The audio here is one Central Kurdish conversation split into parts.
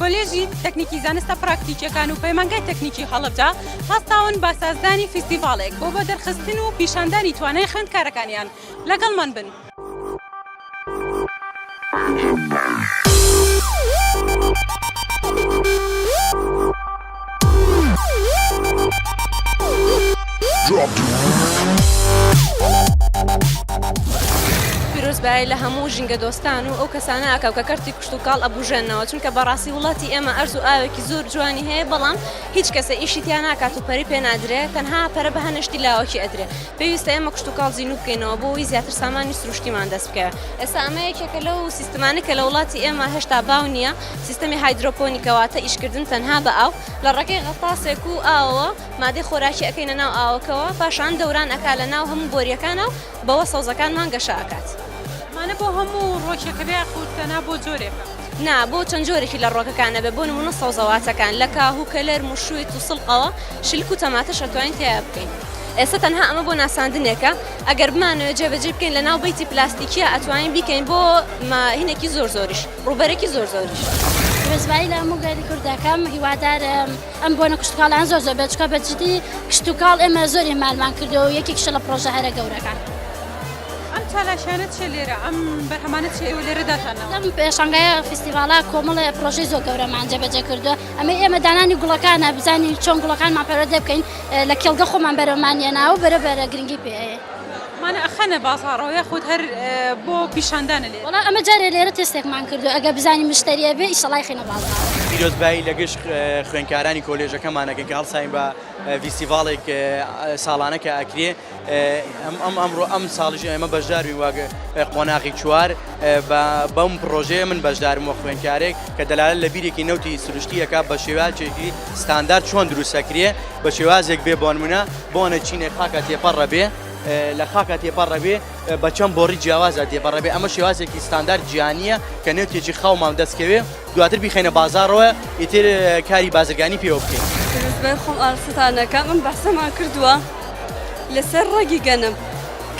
کۆلێژی تەکنیکی زانستە پراکتیکیەکان و پەیمانگای تەکنیکی هەڵەبجە هەستاون بە سازدانی فیستیڤاڵێک بۆ بۆ دەرخستن و پیشاندانی توانای خوێندکارەکانیان. لەگەڵمان بن. پیرۆز بایە لە هەموو ژینگە دۆستان و ئەو کەسانە ئاکاو کە کەرتی کشتوکاڵ ئەبوژێننەوە چونکە بەڕاستی وڵاتی ئێمە ئەرز و ئاوێکی زۆر جوانی هەیە بەڵام هیچ کەسە ئیشی تیا ناکات و پەری پێ نادرێ تەنها پەرە بە هەنشتی لاوەکی ئەدرێ پێویستە ئێمە کشتوکاڵ زینوو بکەینەوە بۆ ئەوەی زیاتر سامانی سروشتیمان دەست بکەوێ ئێستا ئەمە یەکێکە لەو سیستمانەی کە لە وڵاتی ئێمە هێشتا باو نییە سیستەمی هایدرۆپۆنیکە واتە ئیشکردن تەنها بە ئاو لە ڕێگەی غەتاسێک و ئاوەوە مادەی خۆراکی ئەکەینە ناو ئاوەکەوە پاشان دەوران ئەکا لە ناو هەموو بۆریەکانا و بەوە سەوزەکانمان گەشە ئەکات. ئەمانە بۆ هەموو ڕۆکێکەبێ یاخود تەنها بۆ جۆرێکە؟ نا بۆ چەند جۆرێکی لە ڕۆکەکان ئەبێ بۆ نمونە سەوزەواتەکان لە کاهو کەلەر موشویت و سڵقەوە شلک و تەماتەش ئەتوانین تیایا بکەین ئێستا تەنها ئەمە بۆ ناساندنێکە ئەگەر بمانەوێ جێبەجێی بکەین لە ناو بەیتی پلاستیکیە ئەتوانین بیکەین بۆ ماهینێکی زۆر زۆریش ڕووبەرێکی زۆر زۆریش. ڕێزمانی لە هەموو گەلی کوردەکەم هیوادارم. ئەم بۆنە کشتوکاڵیان زۆر زۆر بەچکە بە جدی کشتوکاڵ ئێمە زۆر ئێمالمان کردو و یەکێکیشە لە پرۆژە هەرە گەورەکان. ئەم چالاشانە چیە لێرە ئەم بەرهەمانە چیە ئێوە لێرە دەتانەوە؟ لەم پێشانگایە فیستیڤاڵە کۆمەڵێ پرۆژەی زۆر گەورەمان جێبەجێ کردووە ئەمەی ئێمە دانانی گوڵەکانە بزانین چۆن گوڵەکانمان پەروەردە بکەین لە کێڵگە خۆمان بەرەمان یەناوە بەرە بەرە گرنگی پێ ئەیەین. مان ئەخەنە بازاڕەوە یاخود هەر بۆ پیشاندانە لێرە؟ وەڵا ئەمە جارێ لێرە تێستێکمان کردوە ئەگەر بزانین مشتەری ئەبێ ئیشەڵا ئەیخەینە بازاڕ. پیرۆزبایی لە گشت خوێندکارانی کۆلێژەکەمان ئەکەین کە هەڵساین بە ڤیستیڤاڵێک ساڵانە کە ئەکرێ ئەم ئەمڕۆ ئەم ساڵیش ئێمە بەشداربین وەک قۆناغی چوار بە بەم پڕۆژەیە من بەشدارم وەک خوێندکارێک کە دەلالەت لە بیرێکی نەوتی سروشتی ئەکا بە شێوازێکی ستاندارد چۆن دروست ئەکرێ بە شێوازێک بێ بۆنمونە بۆنە چینێک خاکە تێپەڕە بێ لە خاکە تێپەڕە بێ بە چەند بۆڕی جیاوازە تێپەڕە بێ ئەمە شێوازێکی ستاندار جیانیە کە نێوتێکی خاومان دەستکەوێ دواتر بیخینە بازارەوە ئیتر کاری بازرگانی پێوە بکەین خۆم ئاستانەکە من بەسەمان کردووە لەسەر ڕەگی گەنم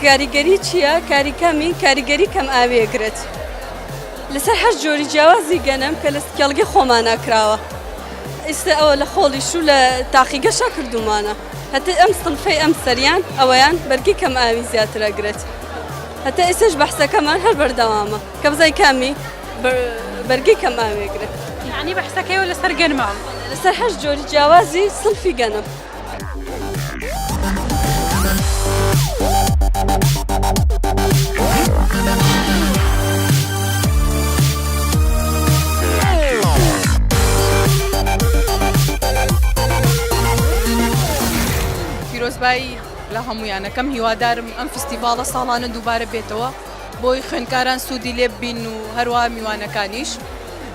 کاریگەری چییە کاری کەمی کاریگەری کەم ئاوێگرێت لەسەر هەر جۆری جیاوازی گەنم کە لە سکێڵگە خۆمانە کراوە. ئیستە ئەوە لە خۆڵیش و لە تاقیگەشا کردوومانە. هەتەی ئەم سنفەی ئەم سەریان ئەوەیان بەرگی کەم ئاوی زیاتر ئەگرێت. هەتا ئیستەش بەحسەکەمان هەر بەردەوامە کە بزانین کامی بەرگی کەم ئاوی ئەگرێت. یەعنی بەحسەکەیەوە لەسەر گەنمە؟ لەسەر هەشت جۆری جیاوازی سنفی گەنم. پیرۆزبایی لە هەمویانەکەم هیوادارم ئەم فستیڤاڵە ساڵانە دووبارە بێتەوە بۆی خوێنکاران سوودی لێ بین و هەروە میوانەکانیش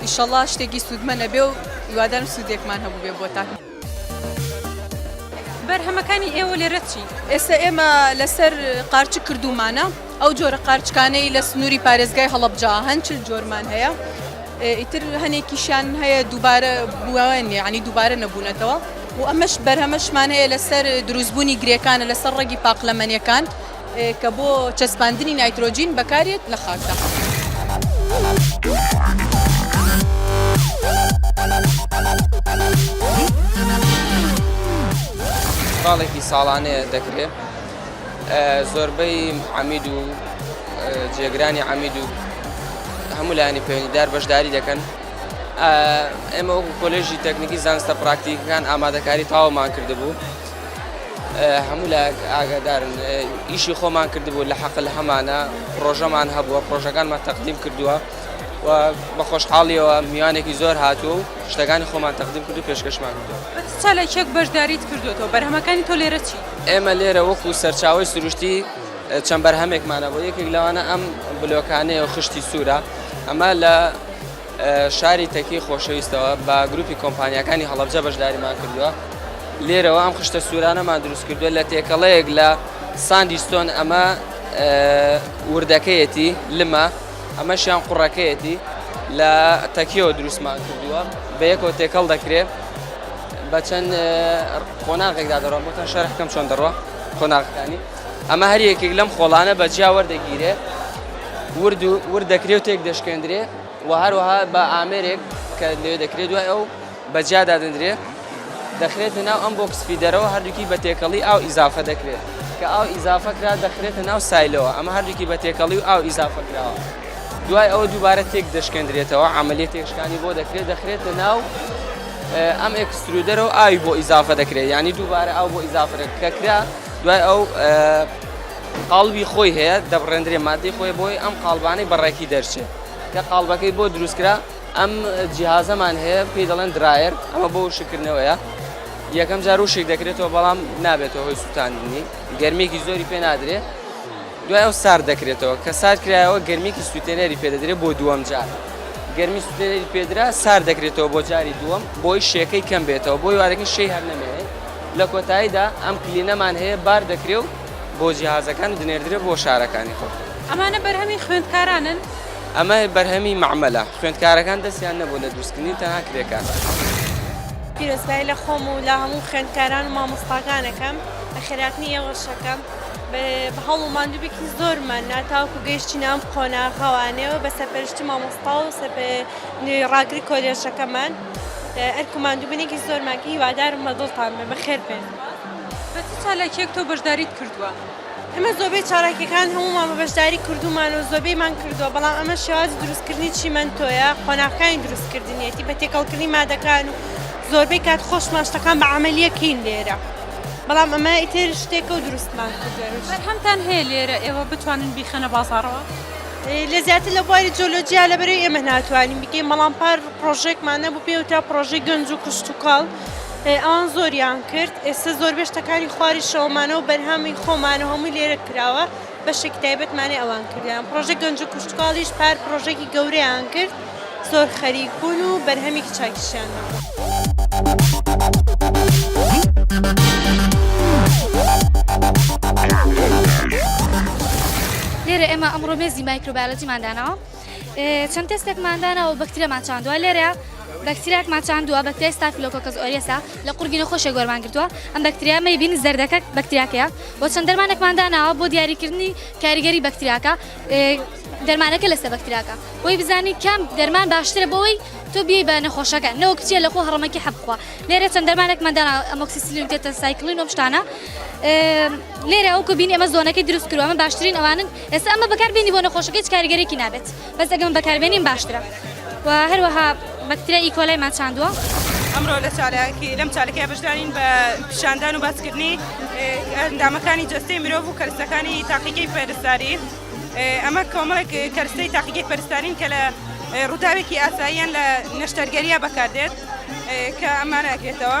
ئیشەڵا شتێکی سوودمە نەبێ و هیوادارم سوودێکمان هەبوو بێ بۆتان. بەرهەمەکانی ئێوە لێرە چین؟ ئێستا ئێمە لەسەر قارچک کردوومانە، ئەو جۆرە قارچکانەی لە سنووری پارێزگای هەڵەبجە هەن چل جۆرمان هەیە، ئیتر هەنێکیشیان هەیە دووبارە بوون، یانی دووبارە نەبوونەتەوە و ئەمەش بەرهەمەشمان هەیە لەسەر دروستبوونی گرێکانە لەسەر ڕەگی پاقلەمەنییەکان. کە بۆ چەسپاندنی نایترۆجین بەکارێت لە خاکداڵێکی ساڵانەیە دەکرێت زۆربەی عمید و جێگرانی عمید و هەموو لایانی پەیوەندیدار بەشداری دەکەن ئێمە وەکو کۆلێژی تەکنیکی زانستە پراکتیکەکان ئامادەکاری تاوەمان کردبوو هەموو لایەک ئاگادارن ئیشی خۆمان کردبوو لە حەقل هەمانە پرۆژەمان هەبووە پرۆژەکانمان تەقدیم کردووە و بە خۆشحاڵیەوە میوانێکی زۆر هاتوو و شتەکانی خۆمان تەقدیم کرد و پێشکەشمان کردووە چالاکیەک بەشداریت کردوێتەوە بەرهەمەکانی تۆ لێرە چی ئێمە لێرە وەکو سەرچاوی سروشتی چەند بەرهەمێکمانە بۆ یەکێک لەوانە ئەم بلۆکانەیە و خشتی سوورە ئەمە لە شاری تەکی خۆشەویستەوە بە گروپی کۆمپانیاکانی هەڵەبجە بەشداریمان کردووە لێرەوە ئەم خشتە سوورانەمان دروست کردووە لە تێکەڵەیەک لە ساندی ستۆن ئەمە وردەکەیەتی لمە ئەمەشیان قوڕەکەیەتی لە تەکیەوە دروستمان کردووە بە یەکەوە تێکەڵ دەکرێت بە چەند قۆناغێکدا دەڕۆم بۆتان شەرحکەم چۆن دەڕۆ قۆناغەکانی ئەمە هەر یەکێک لەم خۆڵانە بە جیا وەردەگیرێ ورد و ورد دەکرێت و تێک دەشکێندرێ و هەروەها بە ئامێرێک کە لێ دەکرێت دوای ئەو بە جیا دادەندرێ دەخرێتە ناو ئەم بۆکس فیدەرەوە هەردووکی بە تێکەڵی ئاو ئیزافە دەکرێت کە ئاو ئیزافە کرا دەخرێتە ناو سایلەوە ئەمە هەردووکی بە تێکەڵی و ئاو ئیزافە کراوە دوای ئەوە دووبارە تێک دەشکێندرێتەوە عملی تێکشکانی بۆ دەکرێت دەخرێتە ناو ئەم ئەکسسترودەرەوە ئاوی بۆ ئیزافە دەکرێت ینی دووبارە ئاو بۆ ئیزافرە کەکرا دوای ئەو قاڵبی خۆی هەیە دەبڕێندرێ مادەی خۆی بۆی ئەم قاڵبانەی بەڕێکی دەرچێت کە قاڵبەکەی بۆ دروستکرا ئەم جیهازەمان هەیە پێی دەڵێن درایەر ئەمە بۆ شکردنەوەیە یەکەم جار و شک دەکرێتەوە بەڵام نابێتەوە هۆی سووتاندنی گەرمێکی زۆری پێ نادرێ دوای ئەو سار دەکرێتەوە کە سار کرایەوە گەرمێکی سووتێنەری پێدەدرێت بۆ دووەم جار گەرمی سووتێنەری پێدرا سار دەکرێتەوە بۆ جاری دووەم بۆی شێکەی کەم بێتەوە بۆی وارەکە شێ هەر نەمێنێت لە کۆتاییدا ئەم کلینەمان هەیە بار دەکرێ و بۆ جیهازەکان دنێردرێ بۆ شارەکانی خۆت. ئەمانە بەرهەمی خوێندکارانن؟ ئەمە بەرهەمی مەعمەلە. خوێندکارەکان دەستیان نەبوو لە دروستکردنی تەنها کرێکار. پیرۆزبایی لە خۆم و لە هەموو خوێندکاران و مامۆستاکان ئەکەم لە خێراتنی ئێوە شەکەم بە هەوڵ و ماندووبێکی زۆرمان نا تاوکو گەیشتینە ئەم قۆناغەوانەوە بە سەرپەرشتی مامۆستا و سەر بە ڕاگری کۆلێژەکەمان. ئەرک و ماندووبونێکی زۆرمان کرد هیوادارم بە دڵتان بێ بەخێر بێن. بە چ چالاکیەک تۆ بەشداریت کردووە؟ ئێمە زۆبەی چالاکیەکان هەموومان بە بەشداری کردوومان و زۆبەیمان کردووە بەڵام ئەمە شێوازی دروستکردنی چیمەنتۆیە قۆناغەکانی دروستکردنیەتی بە تێکەڵکردنی مادەکان و زۆربەی کات خۆشمان شتەکان بە عەمەلیە کەین لێرە بەڵام ئەمە ئیتر شتێکە و دروستمان کردووە. بەرهەمتان هەیە لێرە ئێوە بتوانن بیخەنە بازاڕەوە؟ لە زیاتر لە بواری جۆلۆجیا لە بەرەی ئێمە ناتوانین بکەین بەڵام پار پرۆژێکمان نەبوو پێوترا پرۆژەی گەنج و کشتتوکاڵ ئەوان زۆریان کرد ئێستا زۆربەش تەکانی خواری شەومانە و بەرهەمی خۆمانە هەمووی لێرە کراوە بەشێک تایبەتمانێ ئەوان کردیان پرۆژە گەنج و کشتتوکاڵیش پار پرۆژێکی گەورەیان کرد زۆر خەریک بوون و بەرهەمێکی چاکیشیان نەبوو. لێرە ئێمە ئەمڕۆ مێزی مایکرۆبایۆلۆجیمان داناوە چەند تێستێکمان داناوە بەکتریامان چاندووە لێرە بەکتریاکمان چاندووە بەکتریای ستافیلۆکۆکەس ئۆریەسا لە قورگی نەخۆشێک وەرمان گرتووە ئەم بەکتریا مەیبین زەردەکە بەکتریاکەیە بۆ چەند دەرمانێکمان داناوە بۆ دیاریکردنی کاریگەری بەکتریاکە دەرمانەکە لە سەبەک تراکە بۆی بزانی کام دەرمان باشترە بۆی تۆ بێ بە نەخۆشەکە نەوەک چیە لە خۆ هەڕەمەکی حەبخوا لێرە چەند دەرمانێکمەدانا ئەمۆکسسیلین تێتە سایکلین و شتانە لێرە ئەو کبین ئەمە زۆنەکەی دروست کروە ئەمە باشترین ئەوانن ئێستا ئەمە بەکاربیێنی بۆ نەخۆشەکەی کاریگەرێکی نابێت بەس ئەگەم بەکاربیێنیم باشترە و هەروەها بەکتریا ئیکۆلای مان چاندووە. ئەمڕۆ لە چالاکی لەم چالەکەی بەشدارین بە پیشاندان و باسکردنی ئەندامەکانی جەستەی مرۆڤ و کەرسەکانی تاقیگەی پەرستاری ئەمە کۆمەڵێک کەرسەی تاقیگەی پەرستارین کە لە ڕووداوێکی ئاساییان لە نەشتەرگەریا بەکاردێت کە ئەمانەگرێتەوە.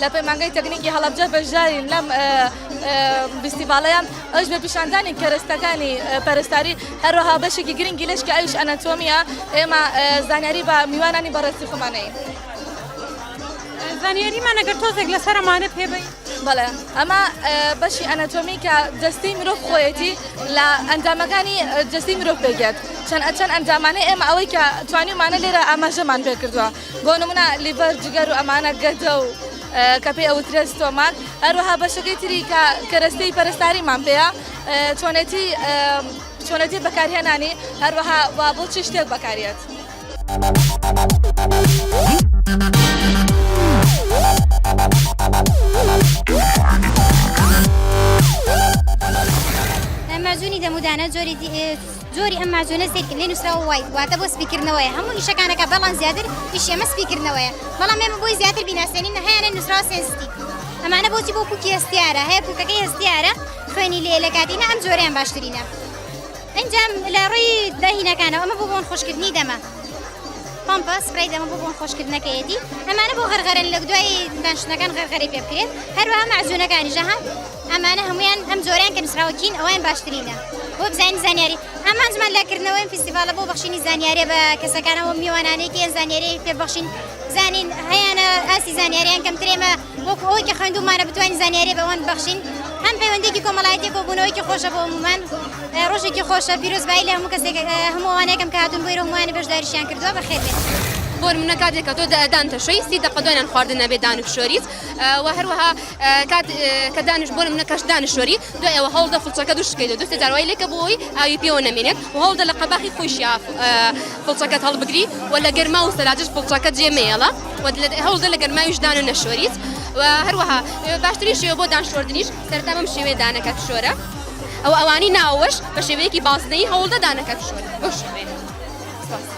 لە پەیمانگای تەکنیکی هەڵەبجە بەشدارین لەم فیستیڤاڵەیە ئەوش بە پیشاندانی کەرەستەکانی پەرستاری هەروەها بەشێکی گرنگی لەش کە ئەوش ئەنەتۆمیە ئێمە زانیاری بە میوانانی بەڕێزی خۆمانەیە زانیاریمان ئەگەر تۆزێک لەسەر ئەمانە پێ بین بەڵێ ئەمە بەشی ئەنەتۆمی کە جستی مرۆڤ خۆیەتی لە ئەندامەکانی جستی مرۆڤ پێگات چەند ئەچەند ئەندامانە ئێمە ئەوەی کە توانیمانە لێرە ئاماژەمان پێ کردووە بۆ نمونە لیڤەر جگەر و ئەمانە گەدە و کە پێی ئەوترێت ستۆماک هەروەها بەشەکەی تری کە کەرەستەی پەرستاریمان پێەیە چۆنێتی چۆنێتی بەکارهێنانی هەروەها وا بۆ چی شتێک بەکارێت. مەجوونی دەمودانە جۆری جۆری ئەم ماجونە سەیرکە لێ نوسراوە وایت واتە بۆ سپی کردنەوەیە هەموو ئیشەکانەکە بەڵام زیاتر ئیشی ئەمە سپی کردنەوەیە بەڵام ئێمە بۆی زیاتر بیناسێنین هەیانە نوسراوە سێنستی ئەمانە بۆچی بۆ کوکی هەستیارە هەیە کوکەکەی هەستیارە خوێنی لێ لە کاتینا ئەم جۆریان باشترینە ئەنجام لە ڕووی داهینەکانەوە ئەمە بۆ بۆن خۆشکردنی دەمە پمپە سپرای دەمە بۆ بۆن خۆشکردنەکەیەتی ئەمانە بۆ غەرغەرن لە دوای دانشتنەکان غەرغەری پێ بکرێت هەروە مەزونەکانی ژەها ئەمانە هەموویان ئەم جۆرەیان کە نووسراوە کین ئەوەیان باشترینە بۆ بزانین زانیاری ئامانجمان لە کردنەوەی ئەم فیستیڤاڵە بۆ بەخشینی زانیارییە بە کەسەکانەوە و میوانانەی کە یان زانیاریی پێ ببەخشین بزانین هەیانە ئاستی زانیارییان کەمترە ئێمە وەکو ئەوەی کە خوێندوومانە بتوانین زانیاریی بە ئەوان ببەخشین هەم پەیوەندییەکی کۆمەڵایەتی کۆبوونەوەیەکی خۆشە بۆ هەموومان ڕۆژێکی خۆشە پیرۆزبایی لە هەموو کەسێک هەموو ئەوانە یەکەم کە هاتوون بۆیرە هەمووانی بەشداریشیان کردووە بەخێربێن بۆ نموونە کاتێک کە تۆ دان تەشۆی سی دەقە دوانیان خواردن نەبێ دان و فشۆریت و هەروەها کات کە دانش بۆ منە کەش دانشوەری دوای ئەوە هەوڵدە فڵچەکە دوش بکەیت و دوستی داروای لێکە بۆی ئاوی پێوە نەمێنێت و هەوڵدە لە قەباخی خۆشیا فڵچەکەت هەڵبگری و لە گەرما و سەراجش فڵچەکە جێمێڵە و هەوڵدە لە گەرماویش دانە نەشوەریت و هەروەها باشتری شێوە بۆ دانشوردنیش سەرتا بەم شێوێ دانەکە بشۆرە ئەو ئەوانی ناوەش بە شێوەیەکی بازنەی هەوڵدە دانەکە بشۆرە بۆ شوێ.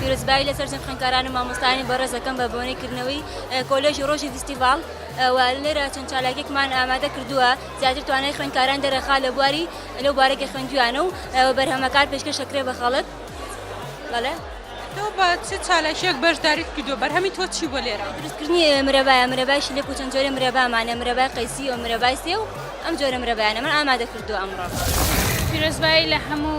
پیرۆزبایی لەسەر جەم خوێندکاران و مامۆستایانی بەڕێز دەکەم بە بۆنەی کردنەوەی کۆلێژی ڕۆژی فیستیڤاڵ و لێرە چەند چالاکێکمان ئامادە کردووە زیاتر توانای خوێندکاران دەرەخا لە بواری لەو بارێکی خوێندویانە و بەرهەمەکان پێشکەش دەکرێت بە خەڵک بەڵێ تۆ بە چ چالاکیەک بەشداریت کردو بەرهەمی تۆ چی بۆ لێرە دروستکردنی مرەبایە مرەبای شلێک و چەند جۆرە مرەبامانە مرەبای قەیسی و مرەبای سێ و ئەم جۆرە مرەبایانە من ئامادە کردو ئەمڕۆ پیرۆزبایی لە هەموو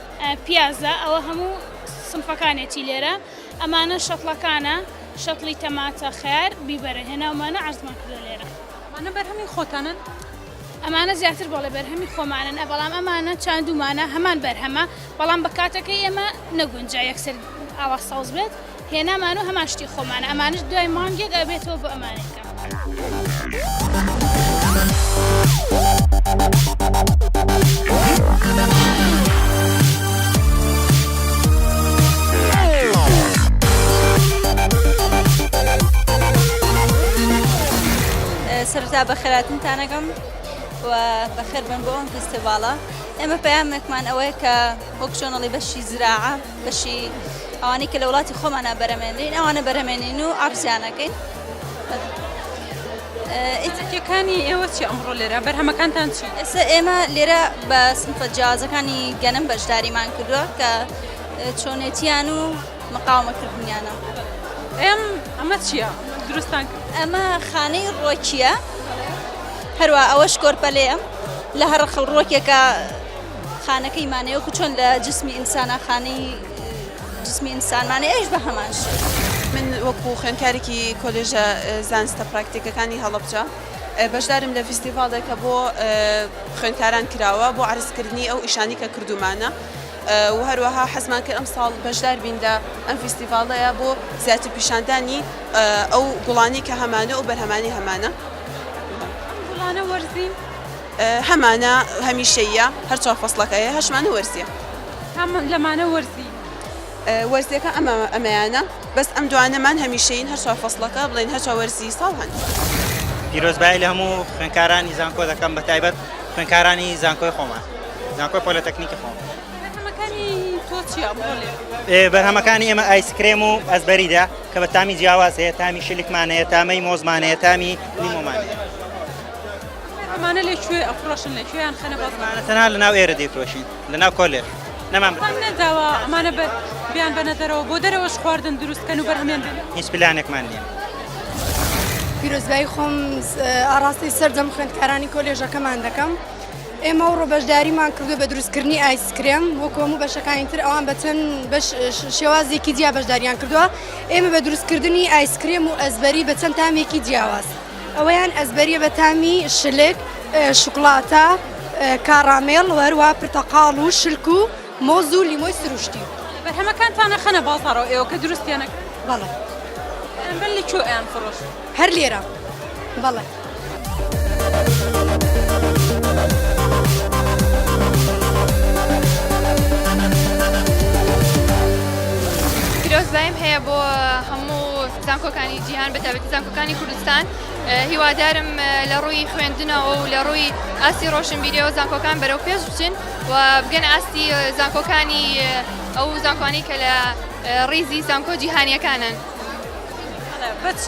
پیازە ئەوە هەموو سنفەکانێتی لێرە ئەمانە شەتڵەکانە شەتڵی تەماتە خەیار بیبەرە هێناومانە عەرزمان کردوە لێرە. ئەمانە بەرهەمی خۆتانن؟ ئەمانە زیاتر بەڵێ بەرهەمی خۆمانن بەڵام ئەمانە چاندومانە هەمان بەرهەمە بەڵام بە کاتەکەی ئێمە نەگونجا یەکسەر ئاوا سەوز بێت. هێنامان و هەمان شتی خۆمانە ئەمانش دوای مانگێک ئەبێتەوە بۆ ئەمانەکە. سەرتا بە خێراتنتانەگەم و بەخێر بن بۆ ئەم فستیڤالە ئێمە پامێکمان ئەوەیە کە وەک شۆنەڵی بەشی زراعە بەشی ئەوانەی کە لە وڵاتی خۆمانە بەرەمێنین ئەوانە بەرەمێنین و ئابزیانەکەین ئیتکەکانی ئێوە چی ئەمڕۆ لێرە بەرهەمەکانتان چی ئێستا ئێمە لێرە بە سنفە جیازەکانی گەنم بەشداریمان کردووە کە چۆنێتیان و مقاومەکردنیانە ئەم ئەمە چییە دروستان ئەمە خانەی ڕۆکیە هەروە ئەوە شکۆرپەلەیە لە هەر خەڵ ڕۆکێکە خانەکەی مانێ وەکو چۆن لە جسمی ئینسانا خانەی جسمی ئینسانمانێ ئەویش بە هەمان شێوە. من وەکو خوێندکارێکی کۆلێژە زانستە پراکتیکەکانی هەڵەبجە بەشدارم لە فیستیڤاڵێک کە بۆ خوێندکاران کراوە بۆ عرزکردنی ئەو ئیشانی کە کردومانە و هەروەها حەزمان کرد ئەمساڵ بەشدار بین لە ئەم فیستیڤاڵەیە بۆ زیاتر پیشاندانی ئەو گوڵانی کە هەمانە و بەرهەمانی هەمانە. ئەم گوڵانە وەرزین؟ هەمانە هەمیشەییە هەر چوار فەسڵەکە هەیە هەشمانە وەرزیە. کام لەمانە وەرزی؟ وەرزیەکە ئەمە ئەمەیانە بەس ئەم دوانەمان هەمیشەین هەر چوار فەسڵەکە بڵێن هەر چوار وەرزی ساڵ هەن. پیرۆزبایی لە هەموو خوێنکارانی زانکۆ دەکەم بە تایبەت خوێنکارانی زانکۆی خۆمان زانکۆی پۆلەتەکنیکی خۆم بەرهەمەکانی ئێمە ئایسکرێم و ئەزبەریدا کە بە تامی جیاواز هەیە تامی شلکمانەیە تامەی مۆزمانەیە تامی لیمۆمانەیە ئەمانە لە کوێ ئەفرۆشن لە کوێیان خەنە بازاڕ؟ ئەمانە تەنها لە ناو ئێرە دەیفرۆشین لە ناو کۆلێر نەمان بەرهەم نەداوە ئەمانە بەر بیان بەنە دەرەوە بۆ دەرەوەش خواردن دروست کەن و بەرهەمیان بێنن؟ هیچ پلانێکمان نییە. پیرۆزبایی خۆم ئاڕاستەی سەرجەم خوێندکارانی کۆلێژەکەمان دەکەم. ئێمە و ڕۆبەشداریمان کردو بە دروستکردنی ئایسکرێم وەکو هەموو بەشەکانی تر ئەوان بە چەند شێوازێکی جیا بەشداریان کردووە ئێمە بە دروستکردنی ئایسکرێم و ئەزبەری بە چەند تامێکی جیاواز. ئەوەیان ئەزبەریە بە تامی شلک، شوکڵاتە، کاڕامێڵ و هەروەها پرتەقاڵ و شلک و مۆز و لیمۆی سروشتی. بەرهەمەکانتان ئەخەنە بازاڕەوە ئێوە کە دروستیان ئەکەن؟ بەڵێ. بەرامبەر لە کوێ ئەیان فڕۆشن؟ هەر لێرە. بەڵێ. پیرۆزباییم هەیە بۆ هەموو. زانکۆکانی جیهان بە تایبەتی زانکۆکانی کوردستان هیوادارم لە ڕووی خوێندنەوە و لە ڕووی ئاستی ڕۆشنبیریەوە زانکۆکان بەرەو پێش بچن و بگەن ئاستی زانکۆکانی ئەو زانکۆانی کە لە ڕیزی زانکۆ جیهانیەکانن بە چ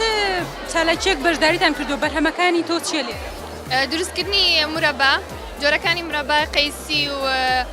چالاکیەک بەشداریتان کردو بەرهەمەکانی تۆ چیە لێ دروستکردنی مرەبا جۆرەکانی مرەبا قەیسی و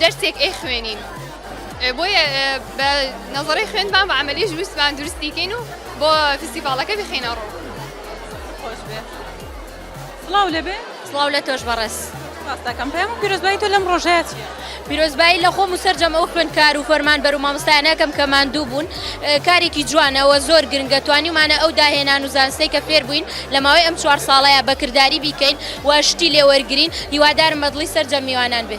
دەرسێک ئەیخوێنین بۆیە بە نەزەڕی خوێنمان بە عملیش ویستمان درستیکەین و بۆ فیسیڤالەکە بخینە ڕوو خۆش بێ سڵاو لەبێ سڵاو لە تۆش بەڕێز ڕاستەکەم پێم پیرۆزبایی تۆ لەم ڕۆژەیە چیە؟ پیرۆزبایی لە خۆم و سەررجەم ئەو خوێندکار و فەرمان بەر و مامۆستایانەکەم کە ماندوو بوون کارێکی جوانەوە زۆر گرنگە توانیمانە ئەو داهێنان و زانستەی کە فێر بووین لە ماوەی ئەم چوار ساڵەیە بەکرداری بیکەین و شتی لێوەرگین هیوادارم بەدڵی سەررجەم میوانان بێ.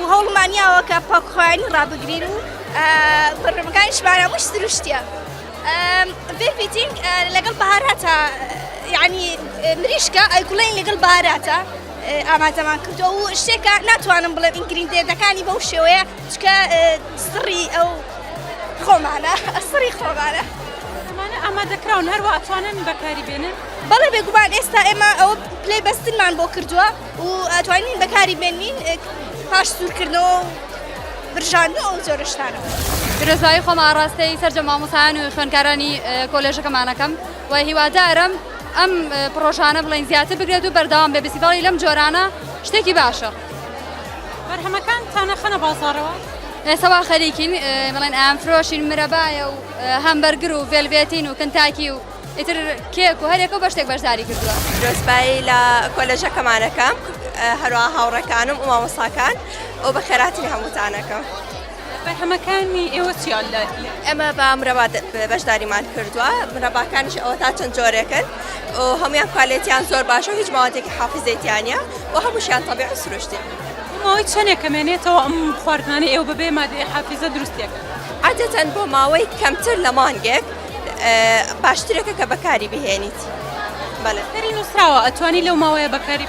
و هەوڵمان یاوە کە پاکخۆیانی ڕابگرین و بەڕێمەکانیشمان هەمووش سروشتیە بێپیتینگ لەگەڵ بەهاراتە یعنی مریشکە ئەیگوڵین لەگەڵ باراتە ئامادەمان کردو و شتێکە ناتوانم بڵێ ئینگریندێتەکانی بەو شێوەیە چکە سڕی ئەو خۆمانە ئەسڕی خۆمانە ئامادەکراون هەروە ئەتوانن بەکاری بێنن بەڵێ بێگومان ئێستا ئێمە ئەو پلەی بەستنمان بۆ کردووە و ئەتوانین بەکاری بێنین پاش سوورکردنەوە و برژاندنەوە ئەو جۆرە شتانە. پیرۆزبایی خۆم ئاڕاستەی سەرجە مامۆسایان و خوێندکارانی کۆلێژەکەمانەکەم و هیوادارم ئەم پرۆژانە بڵین زیاتر بگرێت و بەردەوام بێ بسیباڵی لەم جۆرانە شتێکی باشە بەرهەمەکان تانەخەنە بازارەوە ئێسەوا خەریکین بڵێن ئەم فرۆشین مرەبایە و هەمبەرگر و ڤێلبێتین و کنتاکی و ئیتر کێک و هەریەکە و بەشتێک بەشداری کردووە. درۆزبایی لە کۆلێژەکەمانەکەم هەروەها هاوڕێکانم و مامۆستاکان و بەخێرهاتنی هەمووتانەکەم. بەرهەمەکانی ئێوە چیان لە ئێمە بە مرەبا بەشداریمان کردووە مرەباکانیش ئەوە تا چەند جۆرێکن و هەمویان کوالێتیان زۆر باشە و هیچ ماوەتێکی حافزەیتیانە و هەمووشیان تەبیع و سروشتی. بۆماوەی چەنێک کەمێنێتەوە ئەم خواردنانەی ئێوە بەبێ مادەی حافزە دروستیەکەن؟ عادەتەن بۆ ماوەی کەمتر لە مانگێک. باشترەکە کە بەکاری بهێنیت بەڵێ سەری نووسراوە ئەتوانی لەو ماوەیە بەکاری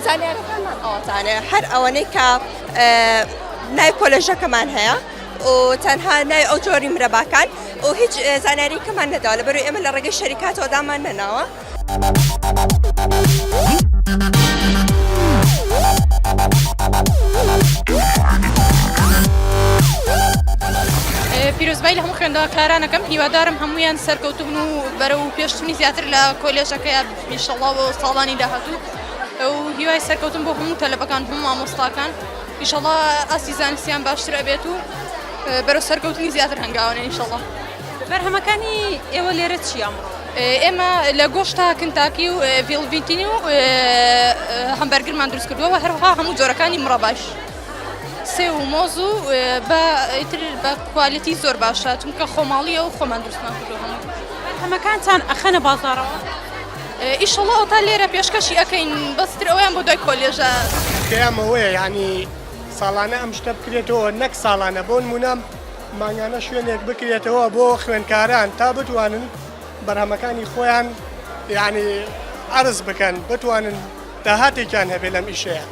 زانیارەکانمان ئەوەتانێ هەر ئەوەنەی کە نای کۆلێژەکەمان هەیە و تەنها نای ئەو جۆری مرەباکان و هیچ زانیاری کەمان نەداوە لەبەر ئێمە لە ڕێگەی شەریکاتەوەدامان نەناوە پیرۆزبای لە هەموو خوێندەوەکارانەکەم هیوادارم هەمویان سەرکەوتبن و بەرە و پێشتنی زیاتر لە کۆلێژەکە میشەڵاوە ساڵانی داهاتوو ئەو هیوای سەرکەوتن بۆ هەموو تەلەبەکان هەموو مامۆستاکان ئیشەڵا ئاسیزانسیان باشترە بێت و بەرە سەرکەوتنی زیاتر هەنگاوانە ئیشەڵە. بەرهەمەکانی ئێوە لێرە چیە ئەمڕۆ؟ ئێمە لە گۆشتە کنتاکی و ڤیڵڤیتینی و هەمبەرگرمان دروست کردووە و هەروەها هەموو جۆرەکانی مڕەباش سێو و مۆز و بە ئیتر بە کوالێتی زۆر باشە چونکە خۆماڵیە و خۆمان دروستمان کردووە هەموو بەرهەمەکانتان ئەخەنە بازاڕەوە؟ ئیشەڵڵا ئەوتا لێرە پێشکەشی ئەکەین بەس ئیتر ئەوەیان بۆ دوای کۆلێژە. تکایە ئەمەوەیە یانی ساڵانە ئەم شتە بکرێتەوە نەک ساڵانە بۆنموونە. مانگانە شوێنێک بکرێتەوە بۆ خوێندکاران تا بتوانن بەرهەمەکانی خۆیان یعنی عرض بکەن بتوانن داهاتێکیان هەبێ لەم ئیشەیە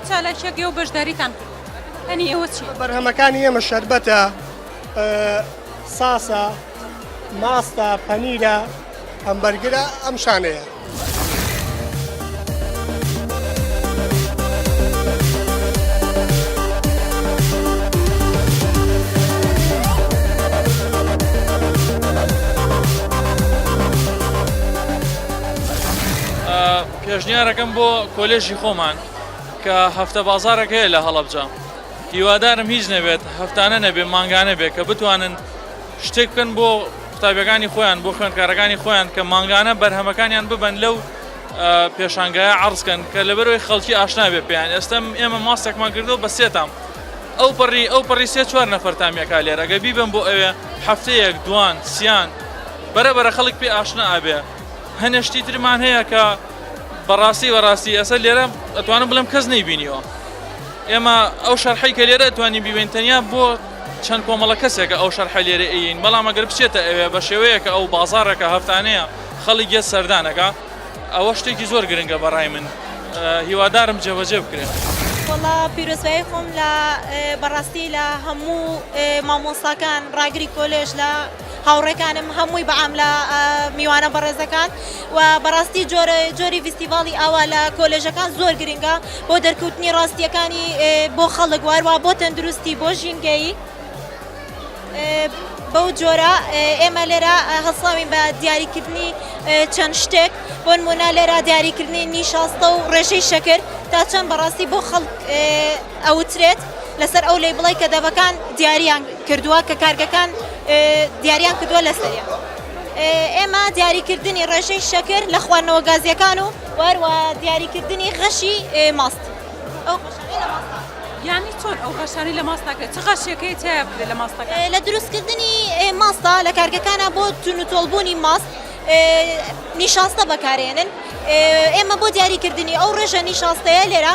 چالاکیە گێ و بەشداریتان ئەنی ئەوە چی بەرهەمەکانی ئێمە شربەتە ساسە ماستە پەنیرە هەمبەرگرە ئەم شانەیە. پێشنیارەکەم بۆ کۆلێژی خۆمان کە هەفتە بازارەکەی لە هەڵەبجە هیوادارم هیچ نەبێت هەفتانە نەبێ مانگانە بێ کە بتوانن شتێک بکەن بۆ قوتابیەکانی خۆیان بۆ خوێنکارەکانی خۆیان کە مانگانە بەرهەمەکانیان ببن لەو پێشانگایە عرزکەن کە لەبەرەوەی خەڵکی ئاشنابێ پێیان ئێستم ئێمە ماستێکمان کردەوە بە سێتام ئەو پەڕی ئەو پەڕی سێ چوار نەفەرتامیەکە لێرەگە بیبم بۆ ئەوێ هەفتەیەک دوان سیان بەرە بەرە خەڵک پێ ئاشنا ئابێ هەنێشتی ترمان هەیە کە بەڕاستی بەڕاستی ئەسە لێرە ئەتوانم بڵم کەس نەیبینیەوە ئێمە ئەو شەرحی کە لێرە توانین بیبین تەنیا بۆ چەند کۆمەڵە کەسێکە ئەو شەرحەی لێرە ئەیەین، بەڵام ئەگەر بچێتە ئەوێ بە شێوەیەک کە ئەو بازاڕێک کە هەفتانەیە خەڵک یەت سەردان ئەکا ئەوە شتێکی زۆر گرنگە بە ڕای من هیوادارم جێبەجێ بکرێ. وەڵا پیرۆزبایی خۆم لە بەڕاستی لە هەموو مامۆستاکان ڕاگری کۆلێژ لە. هاوڕێکانم هەمووی بە ئاملا میوانە بەڕێزەکان و بەڕاستی جۆرە جۆری ڤیستیڤاڵی ئاوا لە کۆلێژەکان زۆر گرنگە بۆ دەرکەوتنی ڕاستیەکانی بۆ خەڵک واروا بۆ تەندروستی بۆ ژینگەیی بەو جۆرە ئێمە لێرە هەسڵاوین بە دیاریکردنی چەند شتێک بۆ نمونە لێرە دیاریکردنی نیشاستە و ڕێژەی شەکر تا چەند بەڕاستی بۆ خەڵک ئەوترێت لەسەر ئەو لەیبڵەی کە دەڤەکان دیاریان کردووە کە کارگەکان دیاریان کردووە لەسەریان ئێمە دیاریکردنی ڕێژەی شەکر لە خواردنەوە گازیەکان و وەروە دیاریکردنی غەشی ماست ئەو غەشانەی لە ماست یانی چۆن ئەو غەشانی لە ماستاکە چ غەشیەکەی تیا بدێت لە ماستەکە لە دروستکردنی ماستا لە کارگەکانە بۆ تون و تۆڵبوونی ماست نیشاستە بەکارێنن ئێمە بۆ دیاریکردنی ئەو ڕێژە نیشاستەیە لێرە